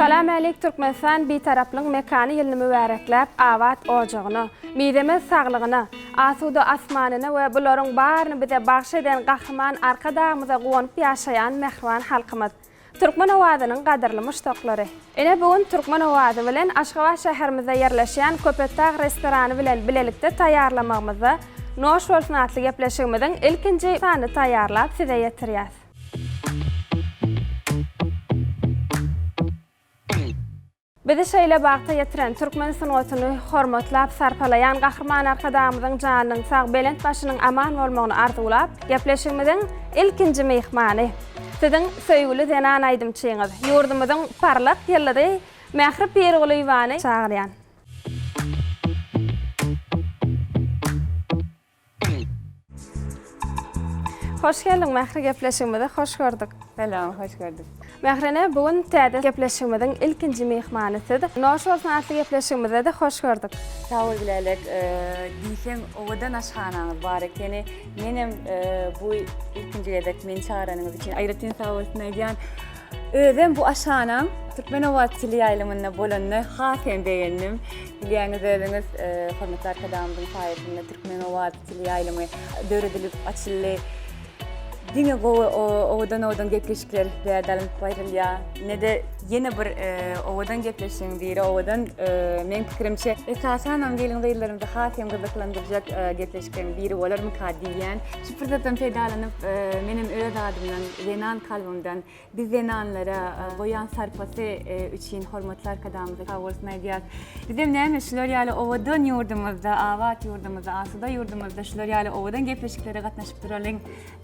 Salam äleýk Türkmenistan Bitaraplygyň mekany ýylyny mübärekläp abat ojagyna, mizemez saglygyna, asuda asmanyna we bularyň baryny bize bagş eden Gahryman Arkadagymyza guwanyp ýaşaýan mähriban halkymyz. Türkmen owazynyň gadyrly muşdaklary! Ine bu gün Türkmen owazy bilen Aşgabat şäherimizde ýerleşýän Köpetdag restorany bilen bilelikde taýýarlamagymyzda Noş bolsun atly gepleşigimiziň ilkinji sanyny taýýarlap size ýetirýäs. Bizi şeýle bagta ýetiren, türkmen sungatyny hormatlap, sarpalaýan Gahryman Arkadagymyzyň janynyň sag, belent başynyň aman bolmagyny arzuwlap, gepleşigimiziň ilkinji myhmany, Siziň söýgüli zenan aýdymçyňyz, ýurdumyzyň parlak ýyldyzy Mähri Pirgulyýewany çagyrýan. Hoş geldiň Mähri gepleşigimizi hoş gördük. Salam hoş gördük. Mähri ene bu gün täze gepleşigimiziň ilkinji myhmany siz. Noş bolsun atly gepleşigimizde-de hoş gördük. Sag bol Gülälek. Diýseň owadan aşhanaňyz bar ekeni. Menem bu ilkinji gezek meni çagyranyňyz üçin aýratyn sag bolsun aýdýan. Özem bu aşanam Türkmenobat teleýaýlymynda bolanyny has hem begendim. Bilýäňiz özüňiz, hormatly Arkadagymyzyň saýasynda Türkmenobat teleýaýlymy döredilip açyldy. Diňe gowy owadan-owadan gepleşikler bu ýerde alnyp barylýar. Ine-de ýene bir owadan gepleşigiň biri owadan, meň pikirimçe, esasanam gelin-gyzlarymyzy has hem gyzyklandyrjak gepleşikleriň biri bolarmyka diýýän. Şu pursatdan peýdalanyp, menem öz adymdan Zenan kalbymdan biz zenanlara goýan sarpasy üçin hormatly arkadagymyza sag bolsun aýdýas. Bizem näme şular ýaly owadan ýurdumyzda, abat ýurdumyzda, asuda ýurdumyzda şular ýaly owadan gepleşiklere gatnaşyp duralyň.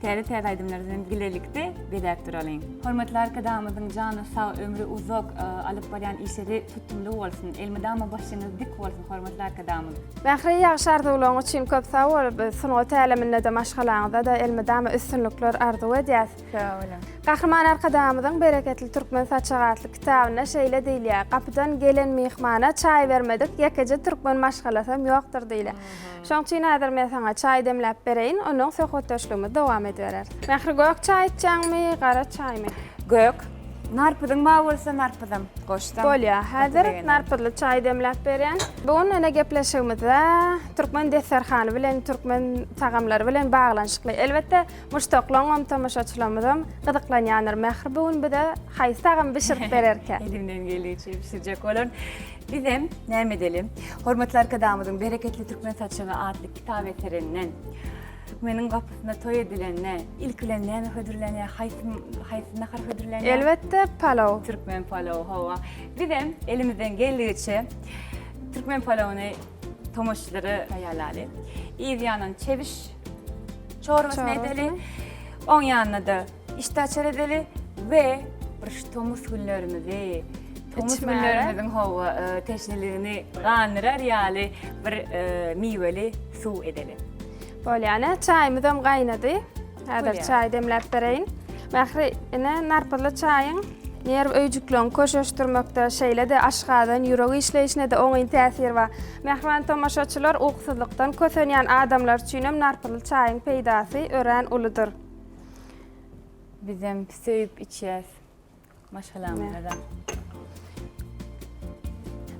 Täze täze aýdymlary bilen bilelikde bezäp duralyň. Hormatly arkadagymyzyň jany sag, ömri uzak, alyp barýan işleri tutumly bolsun. Elmydama başyňyz dik bolsun. Hormatly Arkadagymyz. Mähri ýagşy arzuwlaryň üçin köp sag bol. Biz sungat äleminde-de, maşgalaňyzda-da elmydama üstünlikler arzuw edýäs. Sag boluň. Gahryman Arkadagymyzyň Bereketli türkmen saçagy atly kitabynda şeýle diýilýär, Gapydan gelen myhmana çaý bermedik ýekeje türkmen maşgalasam ýokdur diýilýär. Şonuň üçin häzir men saňa çaý demläp bereýin, ondan soň söhbetdeşligimizi dowam edibereris. Mähri gök çaý içýäňmi, gara çaýmy? Gök. Narpyzyň bar bolsa narpyzam goşsam. Bolýar. Häzir narpyzly çaý demläp berýän. Bu gün ene gepleşigimizde türkmen desterhany bilen türkmen tagamlary bilen baglanyşykly. Elbetde muşdaklaňam tomaşaçylarymyzam gyzyklanýandyr. Mähri bu gün bize haýsy tagamy bişirip bererkä? Elimden gelýänçe bişirjek bolan. Bizem näme edelim? Hormatly arkadagymyzyň Bereketli türkmen saçagy atly kitap eserinden Meniň gapysynda toý edilende, ilki bilen näme hödürlenýär, haýsy haýsy nahar hödürlenýär? Elbetde, palaw. Türkmen palawy, hawa. Bizem elimizden geldigiçe türkmen palawyny tomaşaçylara taýýarlaly. Yz ýanynda çebiş çorbasyny edeli. Oň ýanyna-da Işde açar edeli we bir şu tomus günlerimizi, tomus Içmäge. günlerimiziň howa e, teşneligini gandyrar ýaly bir e, miweli suw edeli. Bolýar, ene, çaýymyz hem gaýnady. Häzir Bolýar. çaý demläp bereýin. Mähri, ene, narpyzly çaýyň nerw öýjükleriňi köşeşdirmekde, şeýle-de aşgazan, ýürek işleýşine-de oňyn täsiri bar. Mähriban tomaşaçylar, ukusyzlykdan kösenýän adamlar üçin hem narpyzly çaýyň peýdasy örän uludyr. Bizem söýüp içýäs. Maşgalamyzda.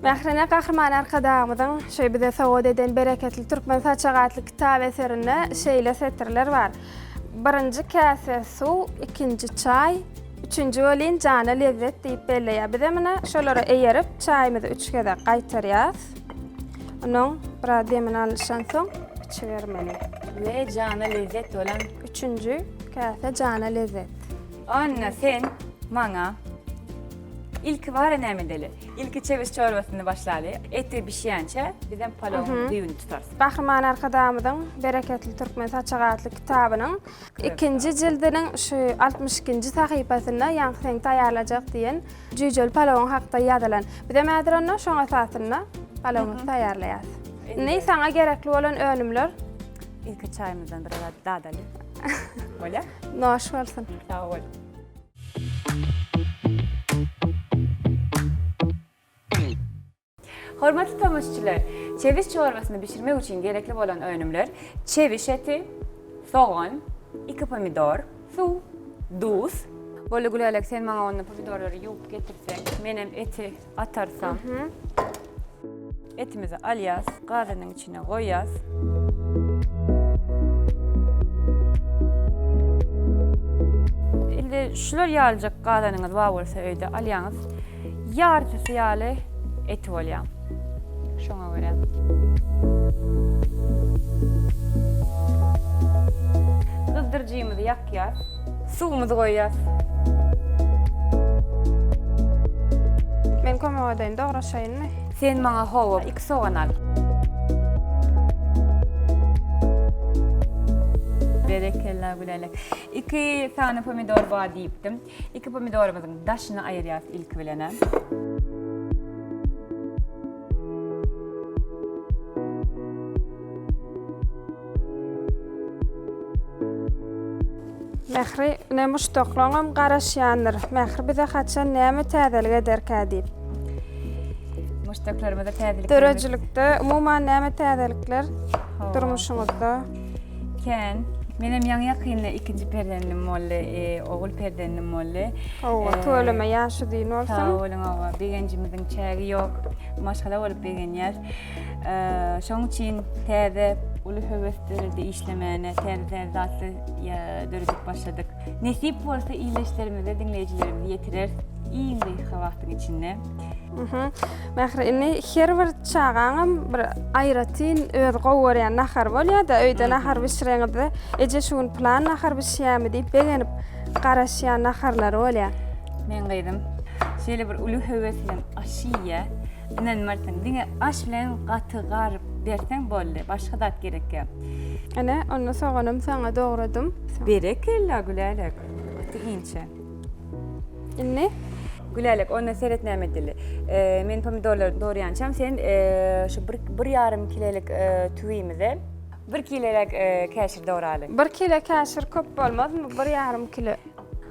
Mährine Gahryman Arkadagymyzyň şu bize sowgat eden Bereketli Türkmen saçak atly kitap eserinde şeýle setirler bar. Birinji käse suw, ikinji çaý, üçünji welin jana lezzet diýip belleýär. Bizem ine şolara eýerip, çaýymyzy üç gezek gaýtarýas. Unuň biraz demini alyşan soň içibermeli. We jana lezzet bolan. Üçünji käse jana lezzet. Anna sen maňa ilki bara näme edeli? Ilki çewiş çorbasyny başlaly. Eti bişýänçä bizem palowyň düýbüni tutarys. Gahryman Arkadagymyzyň Bereketli türkmen saçagy atly kitabynyň Ikinji jildiniň şu altmyş ikinji sahypasynda ýaňky seň taýýarlajak diýen jüýjeli palawyň hakda ýazylan. Bizem häzir onda şoň esasynda palawymyzy taýýarlaýarys. Indi saňa gerekli bolan önümler. Ilki çaýymyzdan biraz dadalyk. Bolýar? Noş bolsun. Sag bol. Hormatly tomaşçylar, çewiş çorbasyny bişirmek üçin gerekli bolan önümler, çewiş eti, sogan, iki pomidor, suw, duz. Bolly Gülälek, sen maňa onda pomidorlary ýuwup getirseň, menem eti atarsam. Etimizi alýas, gazynyň içine goýýas. Indi şular ýalyjak gazanyňyz bar bolsa öýde alýaňyz. Ýartysy ýaly eti bolýar. Şoňa görä. Gyzdyryjymyzy ýakýas. Suwumyzy goýýas. Men kömek edeýin, dograşaýynmy? Sen maňa hawa. Sogan al. Berekella Gülälek. Iki sany pomidor bar diýipdim. Iki pomidorymyzyň daşyny aýyrýas ilki bilen. Mähri, ine muşdaklaňam garaşýandyr. Mähir bize haçan näme täzelik ederkä diýip. Muşdaklarymyza täzelik. Döredijilikde umuman näme täzelikler durmuşyňyzda? Kän. Menem ýaňy ýakynda ikinji perzendim boldy, e, ogul perzendim boldy. Hawa, e, tüweleme ýaşy düýn bolsun. Sag boluň, hawa, begenjimiziň çägi ýok. Maşgala bolup begenýäs. Şoň üçin täze uly höwes döredi işlemäne, täze zatly döredip başladyk. Nesip bolsa iýleşlerimize diňleýjilerimizi ýetirer iň gysga wagtyň içinde. Mähri, indi her bir çagaňam bir aýratyn öz gowy görýän nahary bolýar-da, öýde nahar bişireňizde, eje şu gün plan nahar bişýärmi diýip begenip garaşýan naharlary bolýar. Men gyzym şeýle bir uly höwes bilen aş iýýär. Ynanmarsyň, diňe aş bilen gaty gar berseň boldy, başga zat gerekýak. Ene, onda soganam saňa dogradym. Berekella, Gülälek, gaty inçe. Indi? Gülälek, onda seret näme edeli. Men pomidorlary doraýançam, sen şu bir, bir ýarym kilelik tüwimize bir kileräk käşir doraly. Bir kile käşir köp bolmazmy, bir ýarym kile?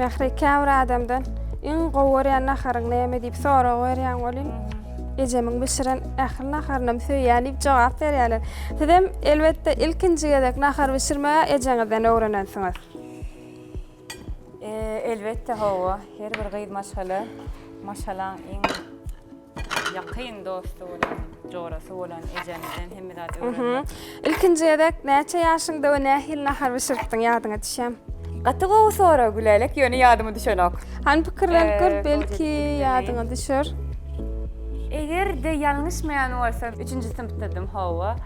Mähri käbir adamdan iň gowy görýän naharyň näme diýip sorag berýän welin, ejemiň bişiren ähli naharyny hem söýýän diýip jogap berýärler. Siz hem elbetde ilkinji gezek nahar bişirmegi ejeňizden öwrenensiňiz. Elbetde hawa, her bir gyz maşgala maşgalaň iň ýakyn dosty bolan, jorasy bolan ejemizden hemme zady öwrenmek. Ilkinji gezek näçe ýaşyňda we nähili nahar bişiripdiň, ýadyňa düşýämi? Gaty gowy sorag Gülälek, ýöne ýadyma düşenok. Hany pikirlenip gör, belki ýadyňa düşer. Eger-de ýalňyşmaýan bolsam, üçünji synpdadym, hawa.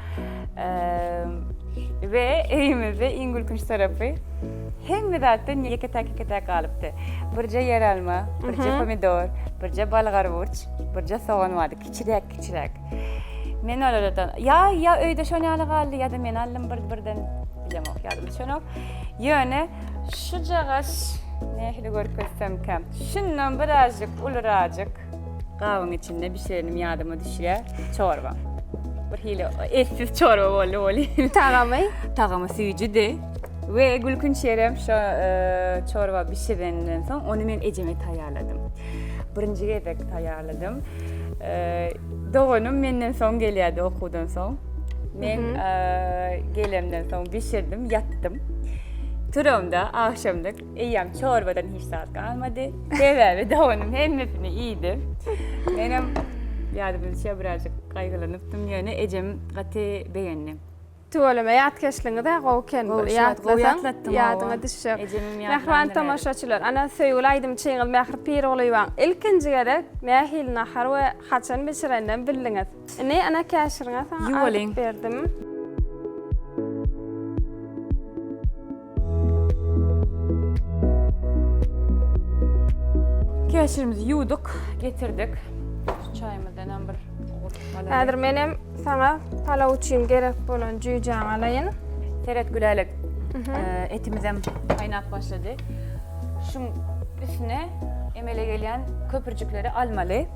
We öýümizde iň gülkünç tarapy. Hemme zatdan ýeke täkikede galypdy. Birje ýeralma, birje pomidor, birje balgarwurç, birje sogan bardy, kiçiräk-kiçiräk. Men olardan, ýa, ýa öýde şon ýaly galdy, ýa-da men aldym bir, birden, bilemok, ýadyma düşenok. Ýöne şujagaş, nähili görkezsemkäm, şundan birazjyk ulurajyk, Gabyň içinde bişirenim ýadyma düşýä. Çorba. Bir hili etsiz çorba boldy woli. Tagamy? Tagamy süýjüdi. We gülkünç ýerem şo e, çorba bişirenden soň ony men ejeme taýýarladym. Birinji gezek taýýarladym. E, doganym menden soň gelýärdi okuwdan soň. Men e, gelemden soň bişirdim, ýatdym. Turamda agşamda Eýýäm çorbadan hiç zat galmady. Sebäbi doganyň hemmesini iýdi. Menem ýadymyzça birazjyk gaýgylanypdym ýöne ejem gaty begendi. Tüweleme ýatkeşligiňiz-ä gowy eken. Gowy ýatlasaň ýadyňa düşjek. Mähriban tomaşaçylar, ana söýgüli aýdymçyňyz Mähri Pirgulyýewaň ilkinji gezek nähili nahar we haçan bişireninem bildiňiz. Ine, ana käşiriňe saňa aýdyp berdim. Käşirimizi ýuwduk, getirdik. Şu çaýymyzdan hem bir Häzir menem saňa palaw üçin gerek bolan jüýjäňi alaýyn. Seret Gülälek. Etimiz hem gaýnap başlady. Şuň üstüne emele gelýän köpürjikleri almaly.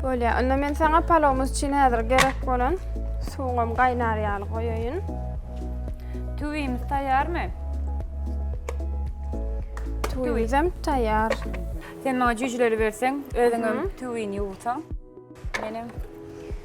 Bolýar. Onda men saňa palawymyz üçin häzir gerek bolan suwuňam gaýnar ýaly goýaýyn. Tüwimiz taýýarmy? Tüwimiz hem taýýar. Sen maňa jüjüleri berseň, özüňem tüwini ýuwsaň. Menem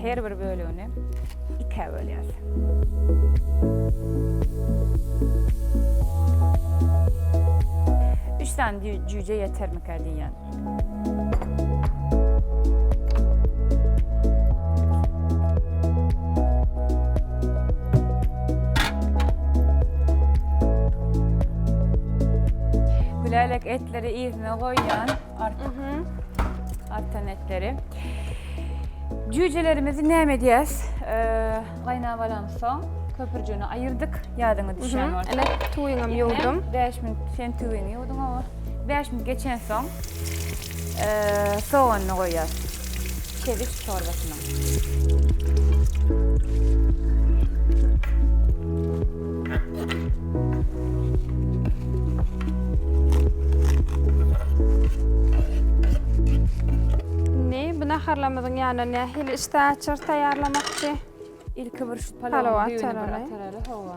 Her bir bölegini ikä bölýäs. Üç sany jüýje ýetermikä diýýän. Gülälek etleri yzyna goýýan. Artan etleri. Cücelerimizi näme edýäs? Gaýnap alan soň köpürjüni aýyrdyk. Ýadyňa düşýän bolsa. Ana tuýuňam ýuwdum. 5 minut sen tuýuňy ýuwduň o. 5 minut geçen soň soganny goýýas. Çewiş Indi bu naharlarymyzyň ýanyna nähili işdä açar taýýarlamakçy? Ilki bir şu palawa düýbüni bir ataraly. Hawa.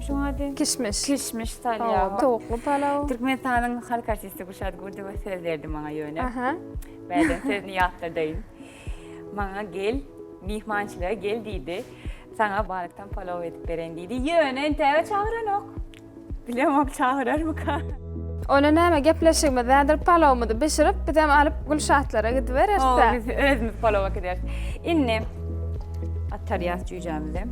Şuň ady? Kişmiş. Kişmiş salýar. Towukly palaw. Türkmenistanyň halk artisti Gülşat Gurdowa söz berdi maňa ýöne. Aha. Bäden sözüni ýatladaýyn. Maňa gel, myhmançylyga gel diýdi. Saňa balykdan palaw edip beren diýdi. Ýöne entäge çagyranok. Bilemok çagyrarmyka. Ony näme gepleşigimiz nädir palawymyzy bişirip bizem alyp Gülşatlara gidibereris dä. Biz özümiz palawa gideris. Indi atarýas jüýjämizi.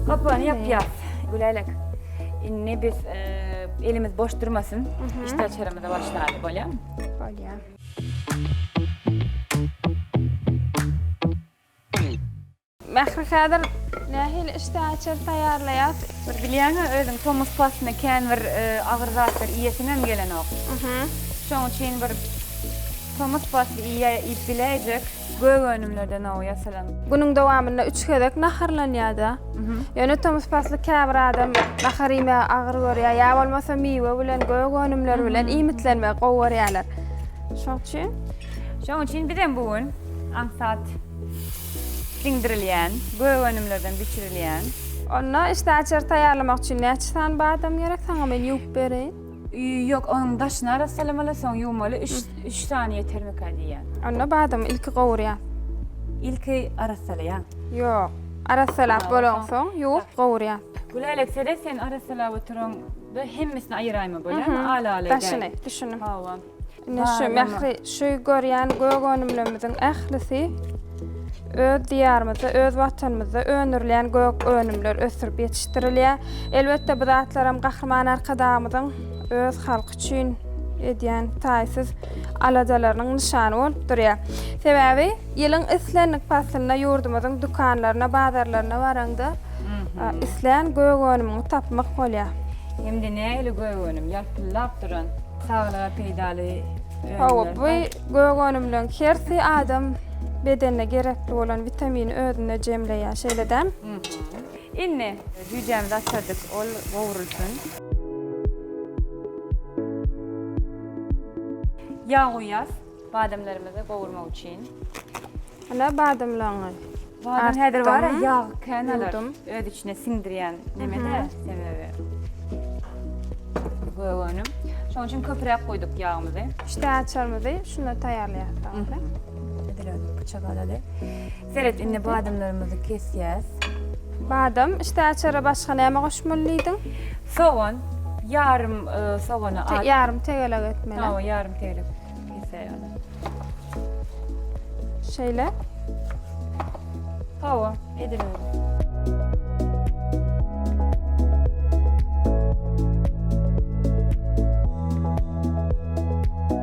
Gapyny ýapýas. Gülälek. Indi biz elimiz boş durmasyn. Işdä çöremize başlaýaly bolýamy? Bolýa. Mähri häzir nähili işdäaçar taýýarlaýas? Bir bilýäňä özüň tomus paslyna kän bir agyr zatlar iýesiňem gelenok. Şoň üçin bir tomus pasly iýip biläýjek gök önümlerden ow ýasalan. Günüň dowamynda üç gezek naharlanýada. Ýöne tomus pasly käbir adam nahar iýmegi agyr görýär. Ýa bolmasa miwe bilen gök önümler bilen iýmitlenmegi gowy görýärler. Şoň üçin. Şoň üçin bizem bu gün aňsat. Siňdirilýän, gök önümlerden bişirilýän. Onda işdäaçary taýýarlamak üçin näçe sany badam gerek? Saňa men ýuwup bereýin. Ýok, onuň daşyny arassalamaly, soň ýuwmaly, üç sany ýetermikä diýýän. Onda badamy ilki gowurýan. Ilki arassalaýan. Ýok, arassalap bolaňsoň, ýuwup gowurýan. Gülälek seret, sen arassalap oturan-da hemmesini aýyraýma, bolarmy? Al-al edeýin. Daşyny, düşündim. Hawa. Ine şu mähri şu görýän gök önümlerimiziň ählisi öz diýarymyzda, öz watanymyzda öndürilýän gök önümler ösdürip ýetişdirilýär. Elbetde bu zatlar hem Gahryman Arkadagymyzyň öz halky üçin edýän taýsyz aladalarynyň nyşany bolup durýar. Sebäbi ýylyň islendik paslynda ýurdumyzyň dükanlaryna, bazarlaryna baraňda islän gök önümiňi tapmak bolýar. Indi nähili gök önüm? Ýalpyldap duran. Saglyga peýdaly önümler. Hawa, bu gök önümleriň hersi adam bedenine gerekli bolan witamini özünde jemleýär, şeýle däl? Indi jüýjämizi açardyk, ol gowrulsyn. Ýag guýýas. Badamlarymyzy gowurmak üçin. Ine badamlaryňy. Badam häzir bar ýag kän alar. Öz içine siňdirýän nemede sebäbi. Gög önüm. Şonuň üçin köpräk goýduk ýagymyzy. Üçte açarymyzy şunda taýýarlaýarys. Edil özi pyçak alaly. Seret indi badamlarymyzy kesýäs. Badam, işte açara başga näme goşmaly diýdiň? Sogan, ýarym sogany at. Te, ýarym tegelek etmeli. Hawa, ýarym tegelek kesäý ony. Şeýle. Hawa, edil öyle.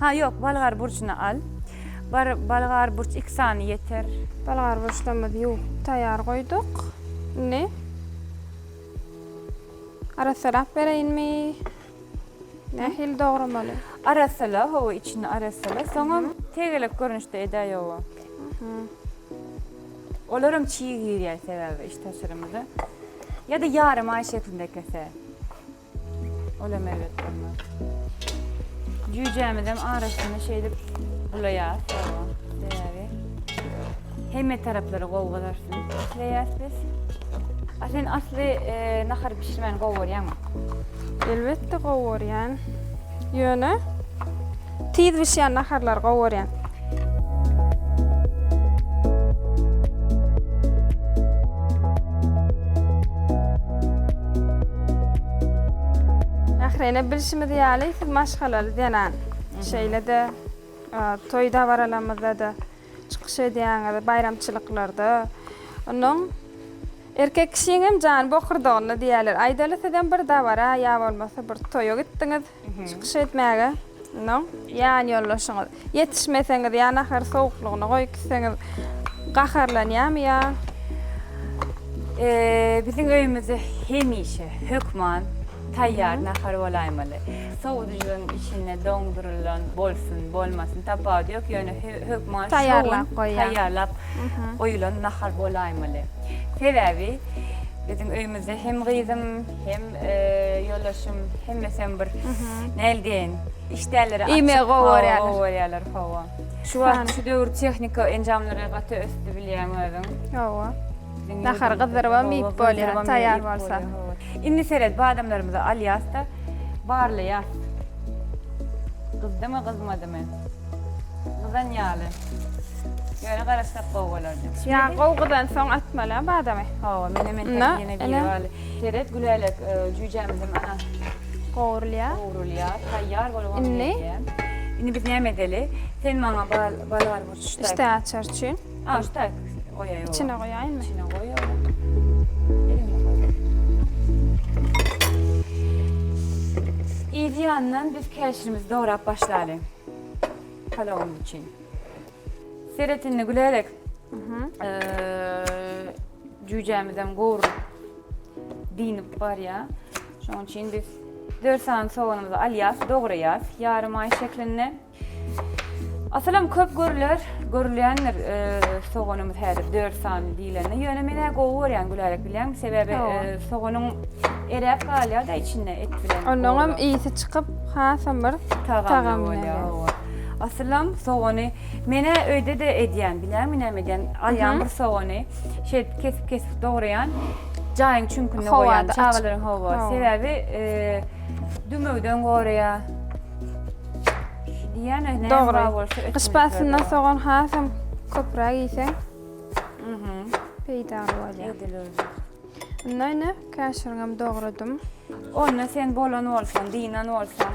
Ha ýok bolgar burçuny al. Bar bolgar burç iki sany ýeter. Bolgar burçlarymyzy ýuwup taýýar goýduk. Indi arassalap bereýinmi? Nähili dogramaly? Arassala hawa içini arassala. Soňam tegelek görnüşde edäý oba. Olaram çig girýär sebäbi iç taşyrymyza. Ýa-da ýarym aý şeklinde kese. Olam erbet bolmaz. Jüýjämizem arasyny şeýdip bulaýas. Sebäbi hemme taraplary gowy gyzarsyn isleýäs biz. A sen asly e, nahar bişirmäni gowy görýäňmi? Elbetde gowy görýän. Ýöne Tiz bişýän naharlary gowy görýän. Mähreýne bilşimiz ýaly siz maşgalaly zenan. Şeýle-de toý dabaralamyzda-da çykyş edýäňiz, baýramçylyklarda. Onuň erkek kişiň hem jany bokurdagynda diýýärler. Aýdaly sizem bir dabara ýa bolmasa bir toýa gitdiňiz. Çykyş etmäge mundan ýan ýoldaşyňyz ýetişmeseňiz ýa nahary sowuklygyna goýup gitseňiz gaharlanýarmy ýa Biziň öýümizde hemişe hökman taýýar nahar bolaýmaly. Sowudyjynyň içinde doňdurylan bolsun, bolmasyn tapawudy ýok, ýöne hökman taýýarlap goýýan, taýýarlap goýulan nahar bolaýmaly. Sebäbi biziň öýümizde hem gyzym, Hem ýoldaşym hemmesem bir näl diýen işdäleri Ime gowy görýärler. Gowy görýärler hawa. Şu wagt şu döwür tehnika enjamlary gaty ösdi bilýän özüň. Hawa. Nahar gyzdyrybam iýip bolýar, taýýar bolsa. Indi seret, badamlarymyzy alýas-da, barlaýas. Gyzdymy, gyzmadymy? Gyzan ýaly. Ýöne garaşsak gowy bolardy. Ýa gowy gyzansoň atmaly badamy. Hawa, menemen täsirine diýip Seret Gülälek jüýjämiziň ana gowrulýar. Gowrulýar. Taýýar bolup onuň gelýär. Indi biz näme edeli? Sen maňa bal bal bar bir çüş. Çüş açar üçin. A şu taý goýaý. Içine goýaýmy? Içine goý. Yz ýandan biz käşirimizi dograp başlaly. Palawymyz üçin. Seret indi Gülälek. Jüýjämizem gowrulyp dinip barýar. Şonuň üçin biz 4 sany soganymyzy alýas, dograýas ýarym aý şeklinde. Asylam köp görüler, görülýändir soganymyz häzir 4 sany diýlende. Ýöne men-ä gowy görýän Gülälek bilýäňmi? Sebäbi soganyň eräp galýar-da içinde et bilen. Onuňam ysy çykyp, hasam bir tagamly bolýar. Asylam sogany men-ä öýde-de edýän, bilýärmi näme edýän? Alýan bir sogany, şeýdip kesip-kesip dograýan, jaýyň çüňkünde goýýan çagalaryň hawa, sebäbi dümewden goraýar. Diýýän öýdýän näme bolsa. Gyş paslynda sogan hasam köpräk iýseň, peýdaly bolýar. Edil özi. Indi ine, käşiriňem dogradym. Onda sen bolan bolsaň, dynan bolsaň.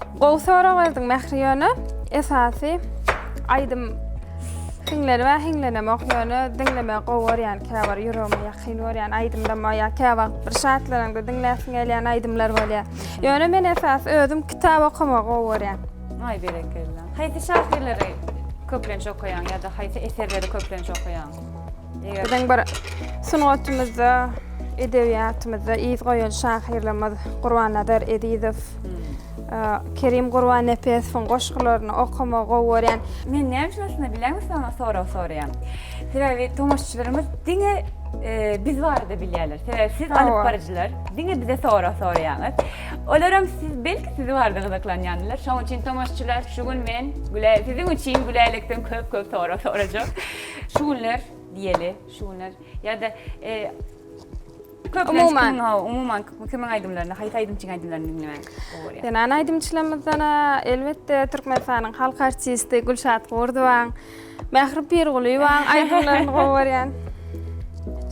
Gowy sorag berdiň Mähri ýöne esasy aýdym hiňlenip ä hiňlenemok ýöne diňlemegi gowy görýän käbir ýüregime ýakyn görýän aýdymlarym bar ýa käwagt bir şatlanaňda diňläsiň gelýän aýdymlar bolýar. Ýöne men esasy özüm kitap okamagy gowy görýän. Aý berekella. Haýsy şahyrlary köplenç okaýaň ýa-da haýsy eserleri köplenç okaýaň? Biziň bir sungatymyzda, edebiýatymyzda yz goýan şahyrlarymyz Gurbannazar Ezizow, Kerim Gurbannepesowyň goşgularyny okamagy gowy görýän. Men näme üçin aslynda bilýäňmi sizden o soragy soraýan? Sebäbi tomaşaçylarymyz diňe biz barada bilýärler. Sebäbi siz alyp baryjylar diňe bize sorag soraýaňyz. Olaram siz belki siz barada gyzyklanýandylar. Şonuň üçin tomaşaçylar şu gün men siziň üçin Gülälekden köp-köp sorag sorajak. Şu günler diýeli, şu günler ýa-da Umuman, umuman kimin aýdymlaryny, haýsy aýdymçyň aýdymlaryny diňlemek gowy görýär? Zenan aýdymçylarymyzdan elbetde Türkmenistanyň halk artisti Gülşat Gurdowaň, Mähri Pirgulyýewaň aýdymlaryny gowy görýän.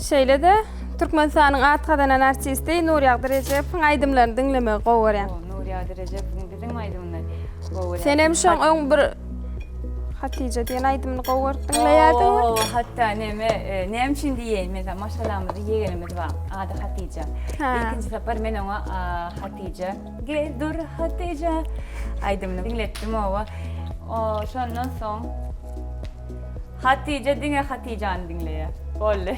Şeýle-de Türkmenistanyň at gazanan artisti Nurýagdy Rejepowyň aýdymlaryny diňlemegi gowy görýän. Nurýagdy Rejepowyň diňe aýdymlaryny gowy görýän. Senem şoň öň bir Hatija diýen aýdymyny gowy görüp diňleýärdiňmi? Oo, hatda neme, e, näme üçin diýeýin, mesela maşgalamyzda ýegenimiz bar, ady Hatija. Hä. Ilkinji sapar men oňa a, Hatija, gel dur Hatija aýdymyny diňletdim oba. O, şondan soň Hatije diňe Hatijany diňleýär. Boldy.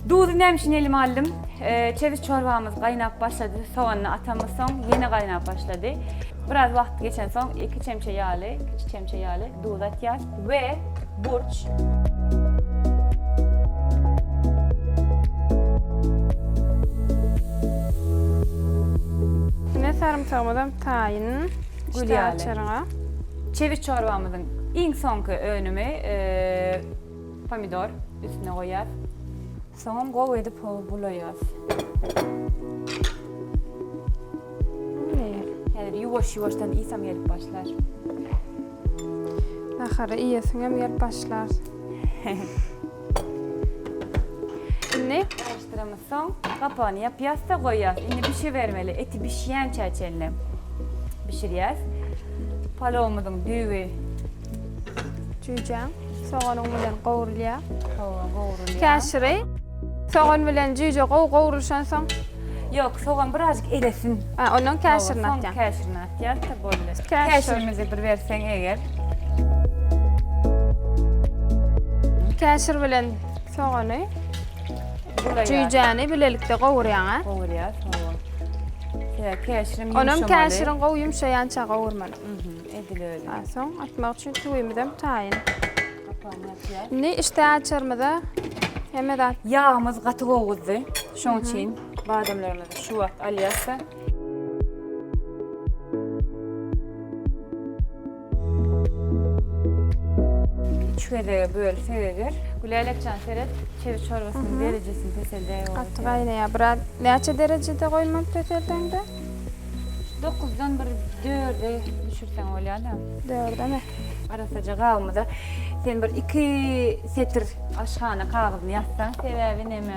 Duzy näme üçin elime aldym? Çewiş çorbamyz gaýnap başlady. Soganyny atamyz soň ýene gaýnap başlady. Biraz wagt geçen soň iki çemçe ýaly, kiçi çemçe ýaly duz atýas we burç. Sarymsagymyzam taýyn, gül ýaly. Çewiş çorbamyzyň iň soňky önümi pomidor. Üstüne goýýas. Soňam gowy edip bulaýas. Häzir ýuwaş-ýuwaşdan iýsem gelip başlar. Nahary iýesiňem gelip başlar. Indi garyşdyramyz. Soň gapagyny ýapýas-da goýýas. Indi bişibermeli. Eti bişýänçä çenli bişirýäs. Palawymyzyň düýbi jüýjeň soganyň bilen gowrulýar. Sogan gowrulýar. Käşiri sogan bilen jüýje gowy gowrulşan soň Ýok, sogan birazjyk elesin. Ondan käşirini atýaň. Soň käşirini. Ýarta boldy. Käşirimizi bir berseň eger. Käşir bilen sogany, jüýjäni bilelikde gowurýaň-a? Gowurýas, hawa. Ýa käşirim ýumşamaly. Onam käşirin gowy ýumşaýança gowurmaly. Mhm, edil öýle. Soň atmak üçin tüwimizem taýyn. Gapagyny açýas. Indi işdä açarymyza hemme zat. Ýagymyz gaty gowuzdy. Şoň üçin badamlarymyzy şu wagt alýas-da. Üç gezege böl seredir. Gülälekjan seret, çewiş çorbasynyň derejesini peseldäý. Gaty gaýnaýar. Biraz näçe derejede goýmaly peseldeňde? Dokuzdan bir dörde düşürseň bolýar-da. Dördeme. Arassaja gabymyza sen bir iki setir aşhana kagyzyny ýazsaň. Sebäbi näme?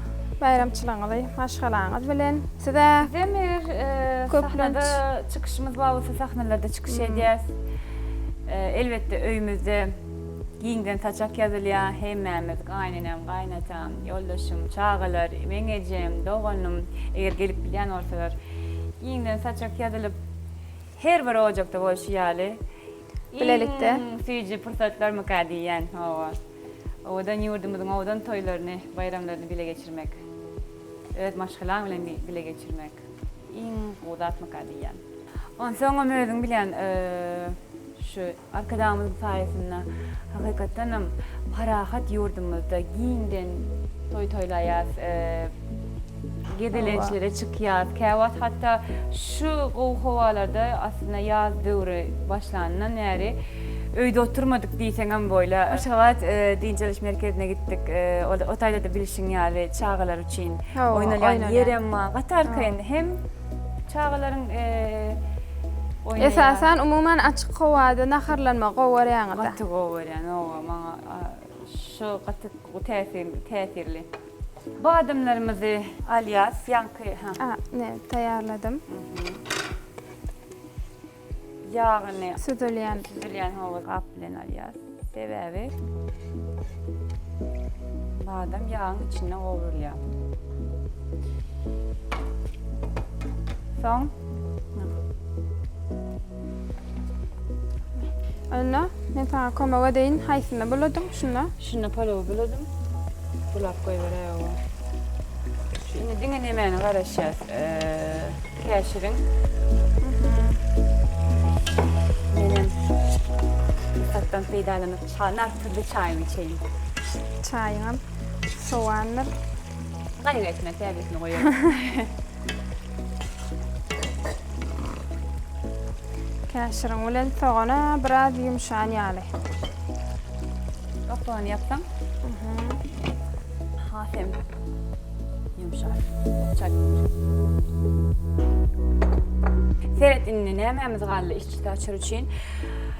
Baýramçylygyňyzy maşgalaňyz bilen. Size Bizem eger sahnada çykyşymyz bar bolsa sahnalarda çykyş edýäs. Elbetde öýümizde giňden saçak ýazylýar, hemmämiz gaýynenem, gaýynatam, ýoldaşym, çagalar, meň ejem, doganym eger gelip bilýän bolsalar giňden saçak ýazylyp her bir ojakda bolşy ýaly. Bilelikde. Iň süýji pursatlarmyka diýýän, hawa. Owadan ýurdumyzyň owadan toýlaryny, baýramlaryny bile geçirmek, öz maşgalaň bilen bile geçirmek iň gowy zatmyka diýýän. Onsoňam özüň bilýän, şu Arkadagymyzyň saýasynda hakykatdanam parahat ýurdumyzda giňden toý toýlaýas. Gezelençlere çykýas. Käwagt hatda şu gowy howalarda aslynda ýaz döwri başlanyndan bäri öýde oturmadyk diýseňem boýla. Aşgabat dynç alyş merkezine gitdik. Ol o taýda-da bilşiň ýaly çagalar üçin oýnalýan ýerem bar. Gaty arkaýyn hem çagalaryň oýnaýan. Esasan umuman açyk howada naharlanmagy gowy görýäňiz-ä. Gaty gowy görýän, oba maňa şu gaty täsirli. Badamlarymyzy alýas, ýaňky ha. A, ne, taýýarladym. Ýagyny. Süzülýän. Süzülýän hawa gap bilen alýas. Sebäbi badam ýagyň içinde gowrulýa. Soň. Anna, men sana kömek edeýin. Haýsynda buladyň? Şunda? Şunda palowy buladym. Bulap goýberäý oba. Şunda diňe nemäni garaşýas? Käşiriň. Menem pursatdan peýdalanyp, nartyrly çaýymy içeýin. Çaýyňam sowandyr. Gaýgy etme, käbesini goýarys. Käşiriň bilen sogana biraz ýumşan ýaly. Gapagyny ýapsaň. Has hem ýumşar. Çak. Seret indi nämämiz galdy işçi taçyr üçin.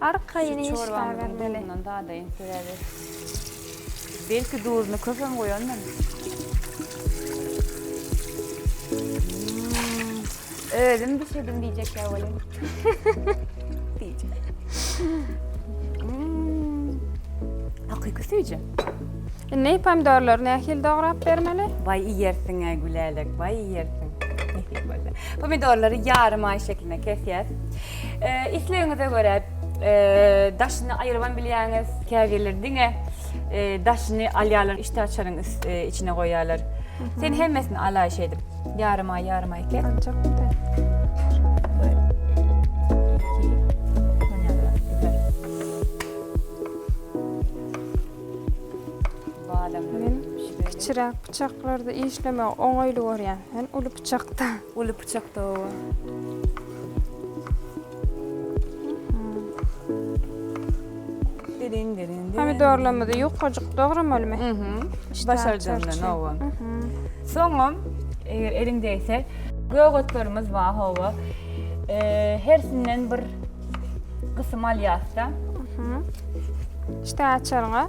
Arkaýyn iş bar bermeli. Belki duzuny köpem goýandym. Özüm bişirdim diýjekkä welin. Hakyky süýji. Indi pomidorlary nähili dograp bermeli? Baý iýersiň-ä Gülälek, baý iýersiň. Pomidorlary ýarym aý şekline kesýäs. Islegiňize görä daşyny aýyrybam bilýäňiz, käbirleri diňe daşyny alýarlar, işdä açaryň içine goýýarlar. Sen hemmesini alaý şeýdip, ýarym aý, ýarym aý ket. Kiçiräk pyçaklarda işlemek oňaýly görýän, men uly pyçakda. Uly pyçakda oba. Diriň diriň. Pomidorlarymyzy ýukajyk dogramalymy? Mhm. Başarjam men oba. Soňam eger eliň degse gögetlerimiz bar oba. Hersinden bir gysym alýasda. Mhm. Ştaçaryňa.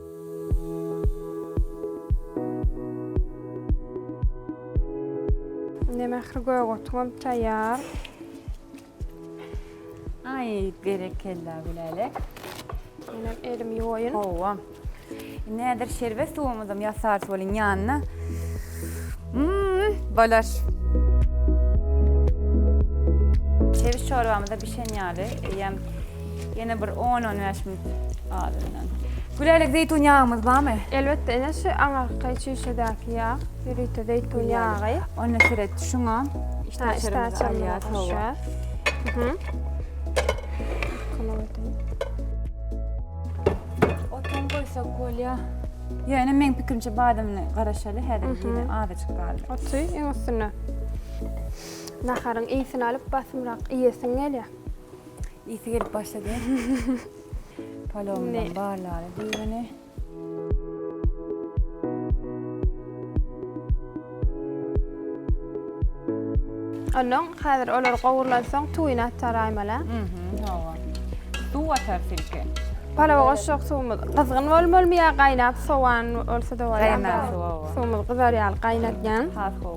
Indi mähir gögurtygym taýýar. Aý, berekella Gülälek. Ine elimi ýuwaýyn. Hawa. Näder şerbet suwumyzam ýasarys welin ýanyna. Mmm, balar. Çewiş çorbamyz-da bişen ýaly. Eýýäm Ýene bir on-on bäş minut azyndan. Gülälek zeýtun ýagymyz barmy? Elbetde ene şu aňyrky çüýşedäki ýag, ýörite zeýtun ýagy. Onda seret şuňa işdä açarymyzy goşýas. Otuň goýsak bolýa. Ýa ene meň pikirimçe badamyny garaşaly häzir ýene azajyk galdy. Oty iň üstüne. Naharyň ysyn alyp basymrak iýesiň gelýä. Isi gelip başlady. Palomdan barlary düzgüni. Ondan häzir olar gowrulan soň tuýyny atar aýmala. Hawa. Suw atar silke. Palawa goşjak suwumyz gyzgyn bolmalymy ýa gaýnap sowan bolsa-da bolar. Gaýnap suw. Suwumyz gyzar ýaly gaýnatýan. Has gowy.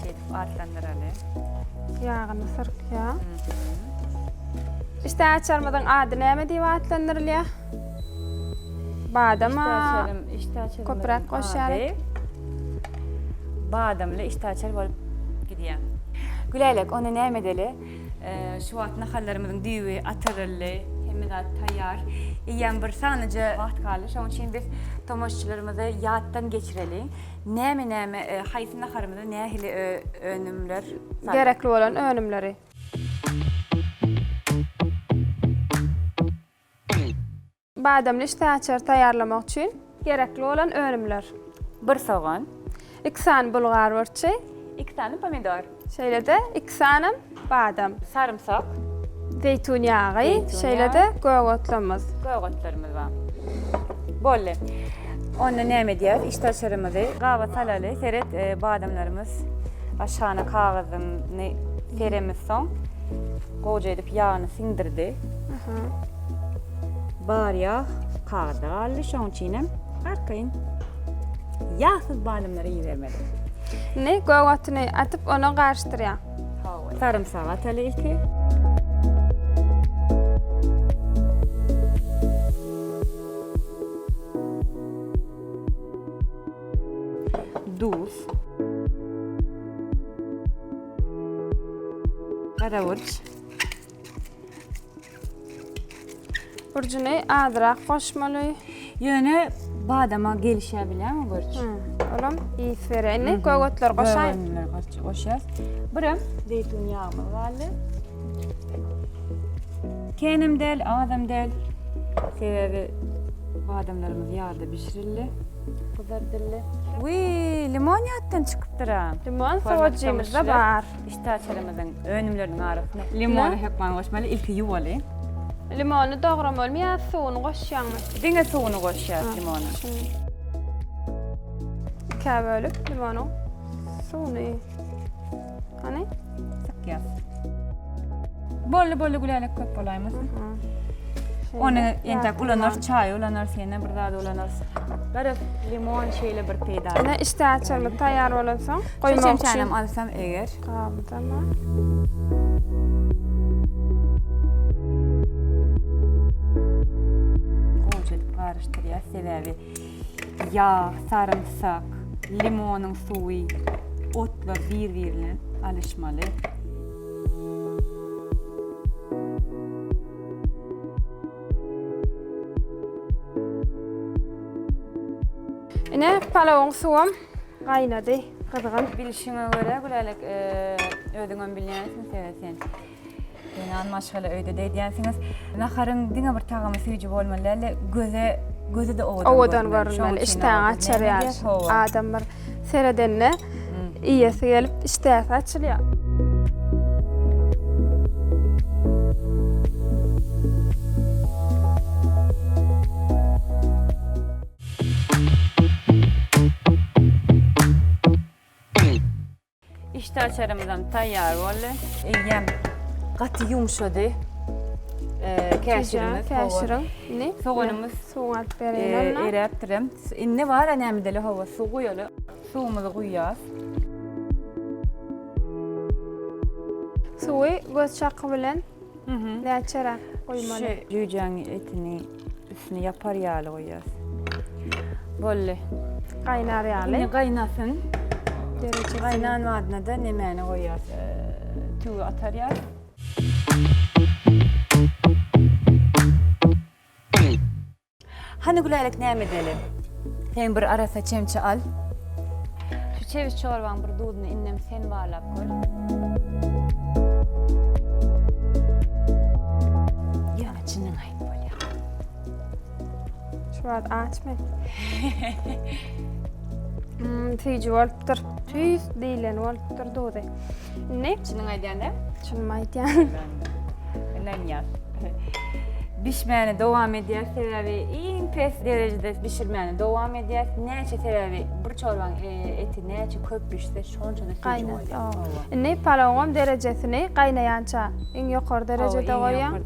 Şeýdip atlandyraly. Ýagyny syrkýar. Işdäki açarymyzyň ady näme diýip atlandyrylýar? Badama köpräk goşýarys. Badamly işdäki açar bolup gidýär. Gülälek, onda näme edeli? Şu wagt nahallarymyzyň düýbi atyryldy. Hemme zat taýýar. Eýýäm bir sanaja wagt galdy. Şonuň üçin biz tomaşaçylarymyzy ýatdan geçireli. Näme näme haýsy naharymyza nähili önümler salmak. Gerekli bolan önümleri. Badamly işdäaçary taýýarlamak üçin gerekli bolan önümler. Bir sogan. Iki sany bulgar burçy. Iki sany pomidor. Şeýle-de iki sany badam. Sarymsak. Zeýtun ýagy, şeýle-de gök otlarymyz. Gök otlarymyz bar. Boldy. Onda näme edýäris? Işdäaçarymyzy gaba salaly. Seret, badamlarymyz aşagynda kagyzyny seremizsoň, gowja edip ýagyny siňdirdi. Bar ýag kagyzda galdy, şoň üçinem arkaýyn ýagsyz badamlary ibermeli. Indi gök otuny atyp, ony garyşdyrýaň. Sarymsagy ataly ilki. Duz. Gara burç. Burjuny azrak goşmaly. Ýöne badama gelişýär bilýäňmi görç? Olam ýyt berýär. Indi göwetleri goşaýyn. Göwünleri gorç goşýas. Birem zeýtun ýagymyz galdy. Kenem däl, azam däl. Sebäbi badamlarymyz ýagda bişirildi, gyzardyldy. Wiý, limon ýatdan çykypdyr-a. Limon sowajymyzda bar. Täçelimiziň önümleriniň arasyna limony hökman goşmaly, ilki ýuwaly. Limony dogramalymy ýa suwuny goşýaňmy? Diňe suwuny goşýas limonyň. Ikä bölüp limonyň suwuny. Hany? Sykýas. Bolly bolly gülälek köp bolaýmasyn. Ony entek ulanarys, çaý ulanarys, ýene bir zat ulanarys. Garaz, limon şeýle bir peýdaly. Ine, işdäaçarymyz taýýar bolansoň, Bir çemçänem alsam eger. Galdama. Gowyja edip garyşdyrýas, sebäbi ýag, sarymsak, limonyň suwy, otlar bir-biri bilen alyşmaly. Ine, palawyň suwam Gaýnady gyzgyn. Bilşiňe görä Gülälek özüňem bilýänsiň sebäbi sen zenan maşgala öýde diýýänsiňiz. Naharyň diňe bir tagamy süýji bolmaly däl-de göze gözi de owadan. Owadan görünmeli. Işdäňi açar ýaly. Adam bir seredende iýesi gelip işdäsi açylýar. Işdäaçarymyzam taýýar boldy. Eýýäm gaty ýumşady. Käşirimiz, käşirim. Indi soganymyz suw alyp bereýin. Eräpdirem. Indi bar näme deli howa suw guýaly. Suwumyzy guýýas. Suwy göz çaky bilen näçeräk guýmaly? Şu jüýjäň etini Üstüni ýapar ýaly goýýas. Bolly. Gaýnar ýaly. Indi gaýnasyn. Derejesi. Gaýnan badyna-da nemäni goýýas? Tüwi atarýas. Hany Gülälek näme edeli? Sen bir arassa çemçe al. Şu çewiş çorbaň bir duzuny indem sen barlap gör. Ýöne çynyňy aýt. Şu wagt açmy? Hmm, tüýji bolupdyr. Tüýs diýlen bolupdyr duzy. Ne? Çynyň aýdýanda? Çynymy aýdýan. Inanýar. Bişmäni dowam edýär, sebäbi iň pes derejede bişirmäni dowam edýär. Näçe sebäbi bir çorbaň e, eti näçe köp bişse, şonça da tüýji Gaýnat. bolýar. Indi palawam derejesini gaýnaýança iň ýokary derejede goýýaň.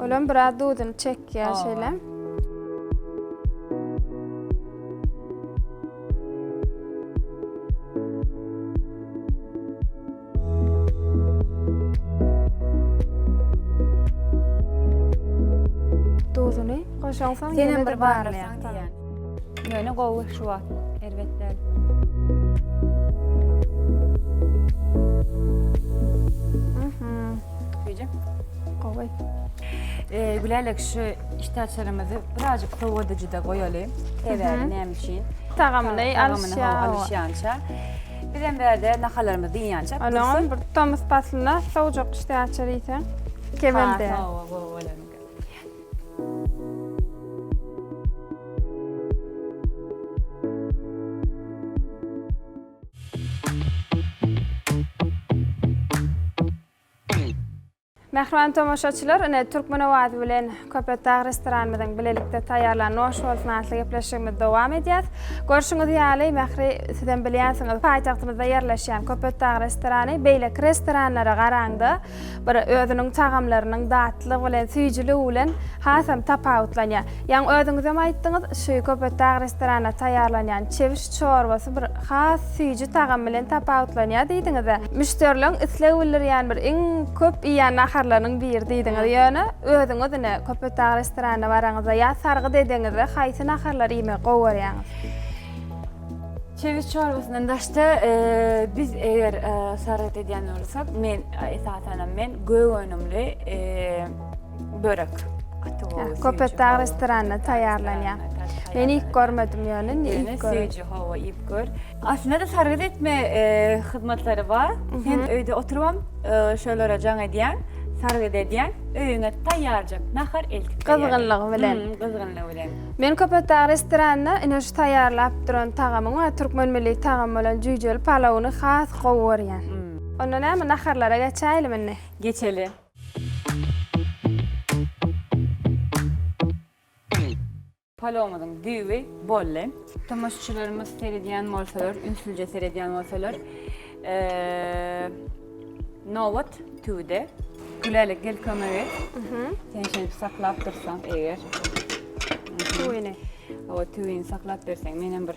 Olam biraz duzuny çekýär şeýle. Duzuny goşaňsoň ýene bir barlaýar. Ýöne gowy şu wagt erbet däl. Gowy. Ee, Gülälek şu işdäçerimizi birazcık sowadyjyda goýaly. Sebäbi näme üçin? Tagamyny Tagamyny alyşýar. alyşýança. Biz hem bärde nahalarymyzy diýýänçä. Onuň bir tomus paslynda sowjak işdäçer iýseň kemelde. Gowy bolanka. Mähriban tomaşaçylar, ine Türkmen Awazy bilen Köpetdag restoranymyzyň bilelikde taýýarlan Noş bolsun atly gepleşigimizi dowam edýäs. Görşüňiz ýaly, Mähri siz hem bilýänsiňiz, paýtagtymyzda ýerleşýän Köpetdag restorany beýleki restoranlara garaňda, Bir özüniň tagamlarynyň datlygy bilen süýjüligi bilen hasam tapawutlanýar. Ýaňy özüňizem aýtdyňyz, şu Köpetdag restoranda taýýarlanýan çewiş çorbasy bir has süýji tagamy bilen tapawutlanýar diýdiňiz-ä. Müşderileriň isleg bildirýän bir iň köp iýýän naharlarynyň biri diýdiňiz. Ýöne özüňiz ine Köpetdag restoranyna baraňyzda ýa sargyt edeňizde haýsy naharlary iýmegi gowy görýäňiz? Çewiş çorbasyndan daşda biz eger sargyt edýän bolsak, men esasanam men gök önümli börek gaty gowy. Köpetdag restoranda taýýarlanýar. Men ilk görmedim ýöne indi ilk görüp. Söýüji howa iýip gör. Aslynda-da sargyt etme hyzmatlary bar. Sen öýde oturybam şolara jaň edýäň, sargyt edýäň, öýüňe taýýarjak nahar eltip berýärler. Gyzgynlygy bilen. Gyzgynlygy bilen. Men Köpetdag restoranynda ine şu taýýarlap duran tagamyň we türkmen milli tagamy bolan jüýjeli palawyny has gowy görýän. Onda näme, naharlara geçäýelim indi. Geçeli. Palawymyzyň düýbi bolly. Tomaşaçylarymyz seredýän bolsalar, ünslüje seredýän bolsalar, Nobat tüwde. Gülälek gel kömek et. Sen şeýdip saklap dursaň eger. Tüwini. O tüwini saklap berseň men hem bir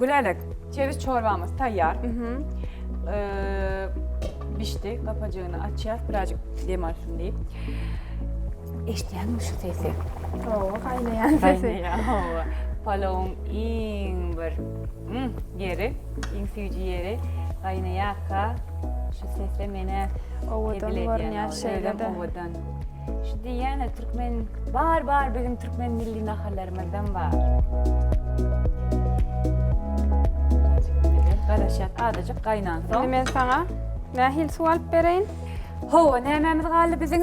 Gülälek, çewiş çorbamyz taýýar. Bişdi, gapajygyny açýas, birazjyk dem alsyn diýip. Eşitýäňmi şu sesi? Hawa, gaýnaýan sesi. Hawa. Palowyň iň bir ýeri, iň süýji ýeri gaýnaýarka şu sesle meni owadan görünýär şeýle-de. Owadan. Şu diýýäne türkmen bar bar biziň türkmen milli naharlarymyzdan bar. Garaşýas azajyk gaýnan soň. Indi men saňa nähili suw alyp bereýin? Hawa, nämämiz galdy biziň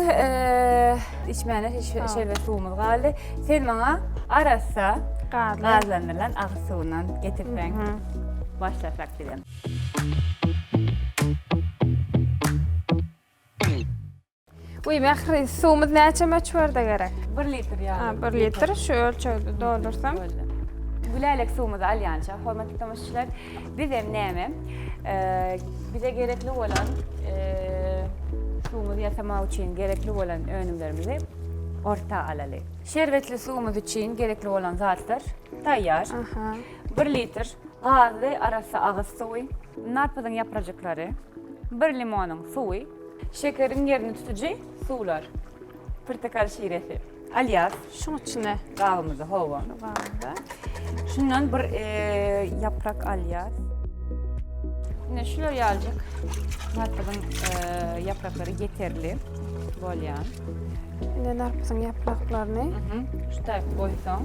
içmäne şerbet suwumyz galdy. Sen maňa arassa gazlandyrylan agyz suwundan getirseň. Başlasak bizem. Uy Mähri, suwumyz näçe möçberde gerek? 1 litr ýaly. Ha, 1 litr şu ölçegde doldursam. Gülälek suwumyzy alýança, hormatly tomaşaçylar, biz hem näme? Ee, bize gerekli bolan ee, suwumyzy ýasamak üçin gerekli bolan önümlerimizi orta alaly. Şerbetli suwumyz üçin gerekli bolan zatlar taýýar. Aha. 1 litr gazly arassa agyz suwy, narpyzyň ýaprajyklary, 1 limonyň suwy, Şekeriň ýerini tutujy suwlar. Pyrtakal şiresi. Alýas. Şuň içine. Gabymyzy howa. Gabymyza. Şundan bir ýaprak alýas. Ine şular ýaljyk. Matygyň ýapraklary ýeterli bolýan. Indi narpyzyň ýapraklaryny şu taýyp goýsaň,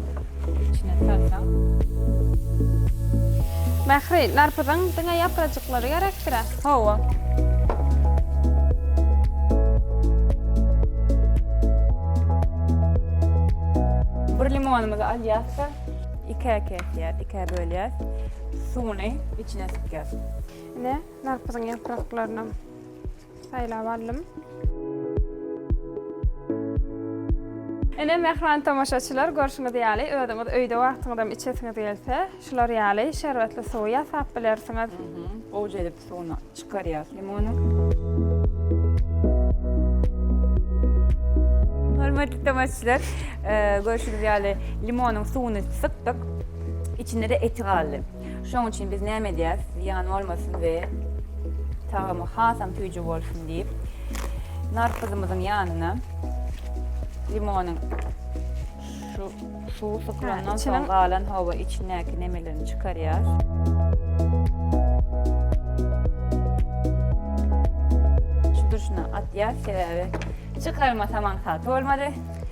içine salsaň. Mähri, narpyzyň diňe ýaprajyklary gerekdir-ä? Hawa. Bir limonymyzy alýas-da, ikä kesýäs, ikä bölýäs. Suwuny içine sypýas. Ine, narpyzyň ýapraklaryny. Saýlap aldym. Ine, mähriban tomaşaçylar, görşüňiz ýaly, özüňiz öýde wagtyňyzam içesiňiz gelse, şular ýaly şerbetli suwy ýasap bilersiňiz. Gowja edip suwuny çykarýas limony. Hormatly tomaşaçylar, e, görşüňiz ýaly, limonyň suwuny sypdyk. Içinde-de eti galdy. Şoň üçin biz näme edýäs, zyýan bolmasyn we tagamy hasam süýji bolsun diýip, narpyzymyzyň ýanyna limonyň şu suwy sykylandan soň galan howa içindäki nemelerini çykarýar. Şu durşuna atýar, sebäbi çykarmasam aňsat bolmady.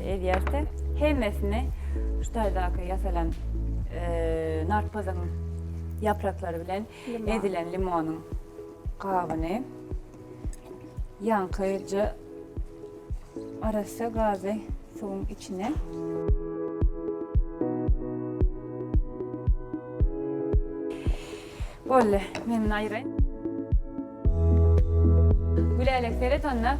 Edýärse, hemmesini şu taýdaky ýasalan narpyzyň ýapraklary bilen ezilen limonyň gabyny ýaňkyja arassa gazy suwuň içine Bolly, menden aýyraý. Gülälek seret onda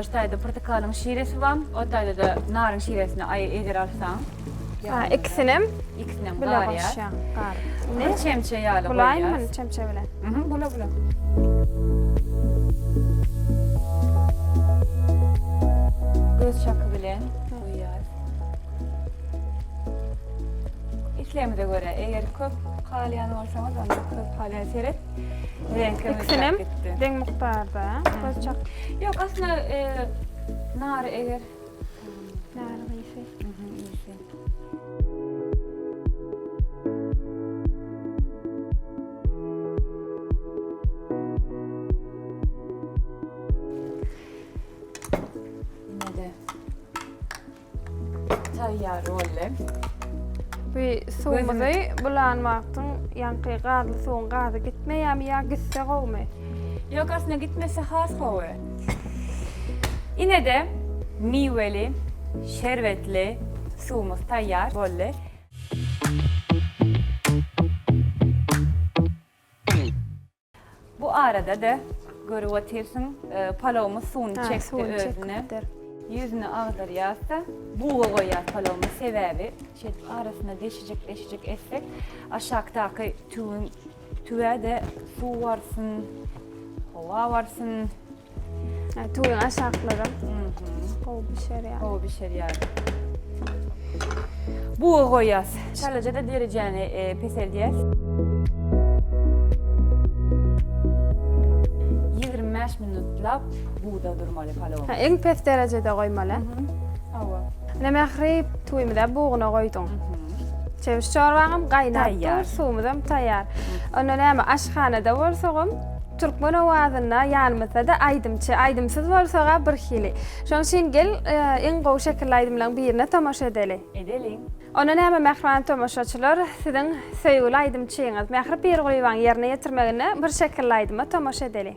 şu taýda portakalyň şiresi bar, o taýda-da naryň şiresini aý eger alsaň. Ha, ikisinem ikisinem bile goşýaň. Gar. Bir çemçe ýaly goýýas. Bulaýmy çemçe bilen? Mhm, bula bula. Göz şaky bilen goýýas. Islegimize görä, eger köp Halýan bolsaňyz onda köz halýa seret. Reňki ikisinem deň mukdarda köz çak. Ýok, aslynda e, nar eger nar ýese. Taýýar boldy. Bu suwumyzy bulan wagtyň ýaňky gazly suwuň gazy gitmeýärmi ýa gitse gowumy? Ýok, aslynda gitmese has gowy. Ine-de miweli, şerbetli suwumyz taýýar boldy. Bu arada-da görüp otyrsyň, palawymyz suwuny çekdi özüne. Ýüzüni agdarýas-da, buga goýýas palawymyzy. Sebäbi şeýdip arasyna deşijik-deşijik etsek, aşakdaky tüwüň, tüwä-de suw barsyn, howa barsyn. Tüwüň aşaklary gowy bişerýär. Gowy bişerýär. Buga goýýas. Şalaja-da derejäni peseldýäs. 25 minutlap buda durmaly palawony. Ha, iň pes derejede goýmaly. Hawa. Ine Mähri, tüwümizi buguna goýduň. Çewiş çorbaňam gaýnap dur, suwumyzam taýýar. Onda näme, aşhanada bolsagam, Türkmen owazynda ýanymyzda-da aýdymçy, aýdymsyz bolsag-a bir hili. Şoň üçin gel, iň gowy şekilli aýdymlaryň birine tomaşa edeli. Edeliň. Onda näme mähriban tomaşaçylar, siziň söýgüli aýdymçyňyz Mähri Pirgulyýewanyň ýerine ýetirmeginde bir şekilli aýdyma tomaşa edeli.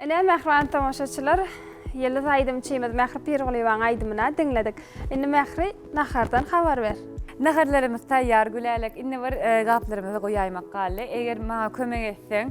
Ine, mähriban tomaşaçylar, ýyldyz aýdymçymyz Mähri Pirgulyýewanyň aýdymyny-a diňledik. Indi Mähri, nahardan habar ber. Naharlarymyz taýýar, Gülälek. Indi bir gaplarymyzy goýaýmak galdy. Eger maňa kömek etseň,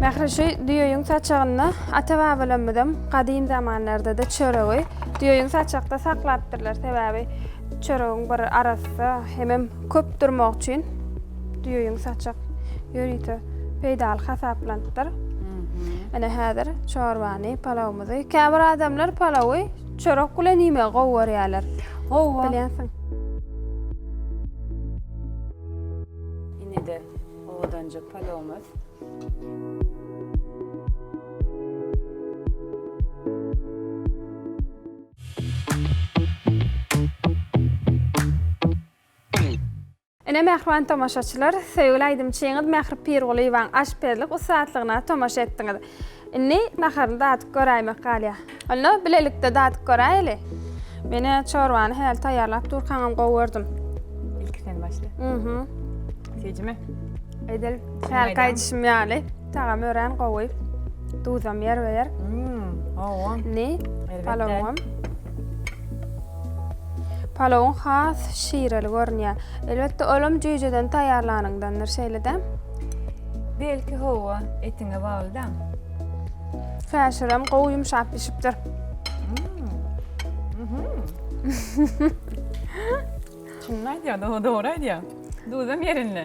Mähri, şu düýeýiň saçagynda ata-babalarymyzam gadym zamanlarda-da çöregi düýeýiň saçakda saklapdyrlar. Sebäbi çöregiň bir arassa hemem köp durmagy üçin düýeýiň saçak ýörite peýdaly hasaplanypdyr. Ine, häzir çorbany, palawymyzy, käbir adamlar palawy, Çörek bilen iýmegi gowy görýärler. Gowy bo. Bilýänsiň. Ine-de owadanja palawymyz. Ine mähriban tomaşaçylar, söýgüli aýdymçyňyz Mähri Pirgulyýewaň aşpezlik ussatlygyna tomaşa etdiňiz. Indi naharyny dadyp göräýmek galýar. Onda bilelikde dadyp göräýeli. Men-ä çorbany häli taýýarlap durkaňam gowy gördüm. Ilki sen başla. Ýa-da. Süýjümi? Edil hälki aýdyşym ýaly. Tagamy örän gowy. Duzam ýerbe-ýer. Hawa. Indi palawym. Palawyn has şireli görünýär. Elbetde, olam jüýjeden taýýarlanyňdandyr şeýle-de. Belki hawa, etiňe bagly-da. Käşirem gowy ýumşap bişipdir. Çynny aýdýar, dogry aýdýar. Duzam ýerinde.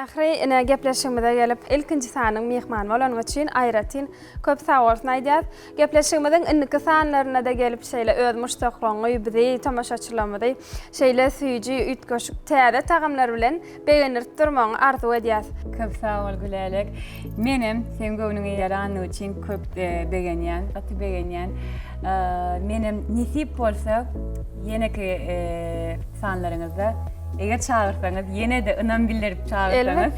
Mähri ine gepleşigimize gelip ilkinji sanyň myhmany bolanyň üçin aýratyn köp sag bolsun aýdýas. Gepleşigimiziň indiki sanlarynada gelip şeýle öz muşdaklaňňy bizi tomaşaçylarymyzy şeýle süýji üýtgeşik täze tagamlar bilen Begendirip durmagyňy arzuw edýäs. Köp sag bol Gülälek. Menem seň göwnüňe ýaranyny üçin köp begenýän, gaty begenýän. Menem nesip bolsa ýeneki sanlaryňyzda eger çagyrsaňyz ýene-de ynam bildirip çagyrsaňyz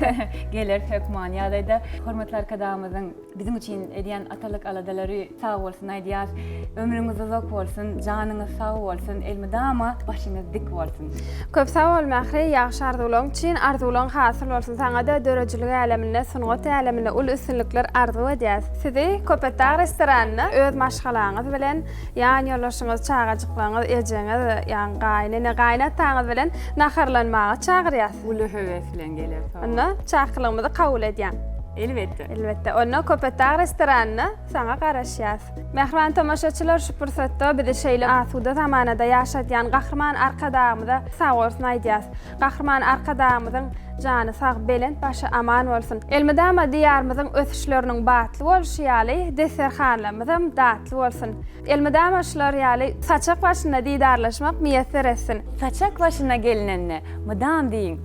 geler hökman ýa-da hormatly arkadagymyzyň Biziň üçin edýän atalyk aladalary sag bolsun aýdýas. Ömrüňiz uzak bolsun, janyňyz sag bolsun, elmydama başyňyz dik bolsun. Köp sag bol Mähri, ýagşy arzuwlaň üçin, arzuwlaň hasyl bolsun saňada döredijilik äleminde, sungat äleminde uly üstünlikler arzuw edýäs. Sizi Köpetdag restoranynda öz maşgalaňyz bilen, ýan ýoldaşyňyz, çagajyklaryňyz, ejeňiz, ýagny gaýynene, gaýynataňyz bilen naharlanmaga çagyrýas. Uly höwes bilen geler, sag boluň. Onda çakylygymyzy kabul edýäň. Elbetde. Elbetde, onda Köpetdag restoranynda saňa garaşýas. Mähriban tomaşaçylar şu pursatda bizi şeýle asuda zamanada ýaşadýan Gahryman Arkadagymyza sagbolsun aýdýas. Gahryman Arkadagymyzyň jany sag, belent başy aman bolsun. Elmydama Diýarymyzyň ösüşleriniň batly bolşy ýaly, desterhanlarymyzam datly bolsun. Elmydama şular ýaly saçak başynda didarlaşmak miýesser etsin. Saçak başyna gelinende, mydam diýiň.